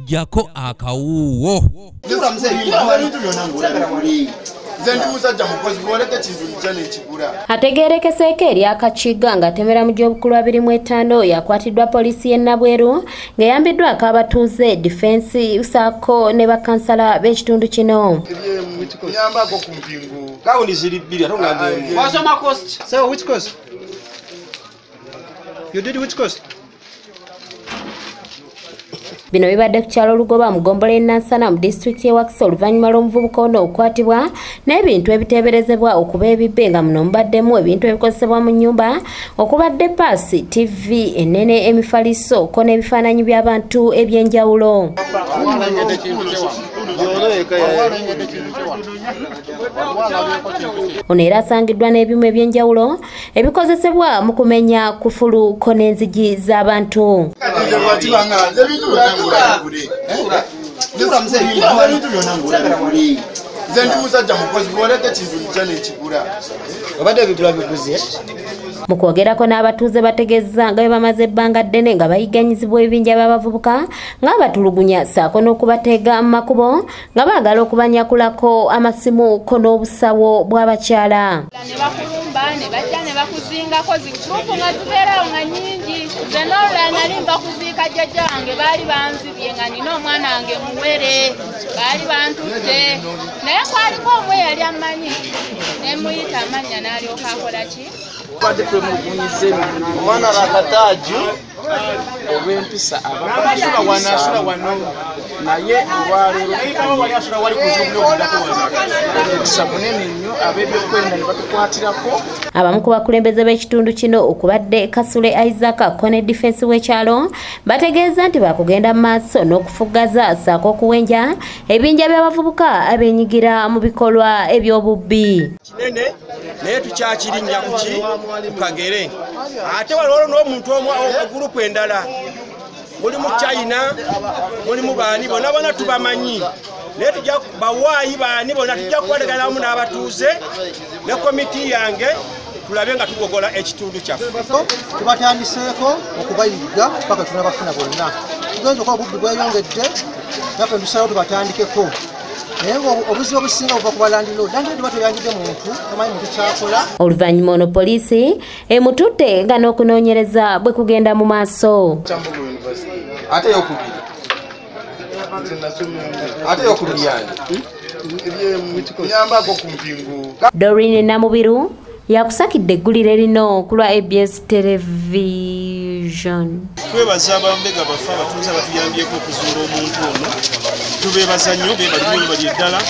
jako akawuwo ategeerekeseeko erya kakiga ng'atemera mu gy'obukulu abiri mu etaano oyo akwatiddwa poliisi y'e nabweru ng'eyambiddwako abatuuze difensi saako ne bakansala b'ekitundu kino You did which course? bino bibadde ku kyalo lugoba mu gombola enansana mu disitulikiti y'ewakisa oluvannyuma lw'omuvubuka ono okukwatibwa n'ebintu ebiteeberezebwa okuba ebibbe nga muno mubaddemu ebintu ebikozesebwa mu nnyumba okubadde paasi tivi ennene emifaliso ko n'ebifaananyi by'abantu eby'enjawulo ono era asangiddwa n'ebimu eby'enjawulo ebikozesebwa mu kumenya kufulu ko n'enzigi z'abantu nze ndi musajja mukozi bwoleka ekintu nkya nekigula obadde ebigula biguze mu kwogerako n'abatuuze bategeeza nga bwe bamaze ebbanga ddene nga bayiganyizibwa ebibinja by'abavubuka ng'abatulugunya ssaako n'okubateega mu makubo nga baagala okubanyakulako amasimu ko n'obusawo bw'abakyala ne bakulumba ne bajja ne bakuzingako ziturupu nga zibeerawo nga nyingi ze noolula nali nva kuziika jjajja wange baali banzibye nga nina omwana wange muwere baali bantutte naye kwaliko omu eyali ammanyi ne muyita amannya n'alyoka akola ki olw'empisa naye olwaleeroempisa munene nnyo ab'ebyokwerinda ne batukwatirako abamu ku bakulembeze b'ekitundu kino okubadde kasule isaac kone difensi w'ekyalo bategeeza nti bakugenda mu maaso n'okufuggaza saako okuwenja ebinja by'abavubuka abenyigira mu bikolwa eby'obubbi kinene naye tukyakirinnya kuki kukagere ate waliwo n'omuntu omu ogurupu endala muli mu china muli mu baani bona bona tubamanyi naye tujja bawaayi baani bona tujja kubalegana wamu n'abatuuze ne komiti yange tulabe nga tugogola ekitundu kyaffe tubatandiseeko okubayigga paka tunabafuna bonna tugenza okuba obubbi bweyongedde naffe ntusalawo tubatandikeko naye ng'obuzibu obusinga buva ku balandiloodi landiloodi ba teyanjudde muntu omanyi muntu kyakola oluvannyuma ono poliisi emututte nga n'okunoonyereza bwe kugenda mu maaso ate yokubiri ate yokubiri yange ebyemuyamba ago ku mpingu dorini namubiru yakusakidde eggulire lino ku lwa abs television twebaza abambega baffe abatuuze abatuyambyeko okuzuula omuntu ono tubeebaza nnyo bebalimu bebali eddala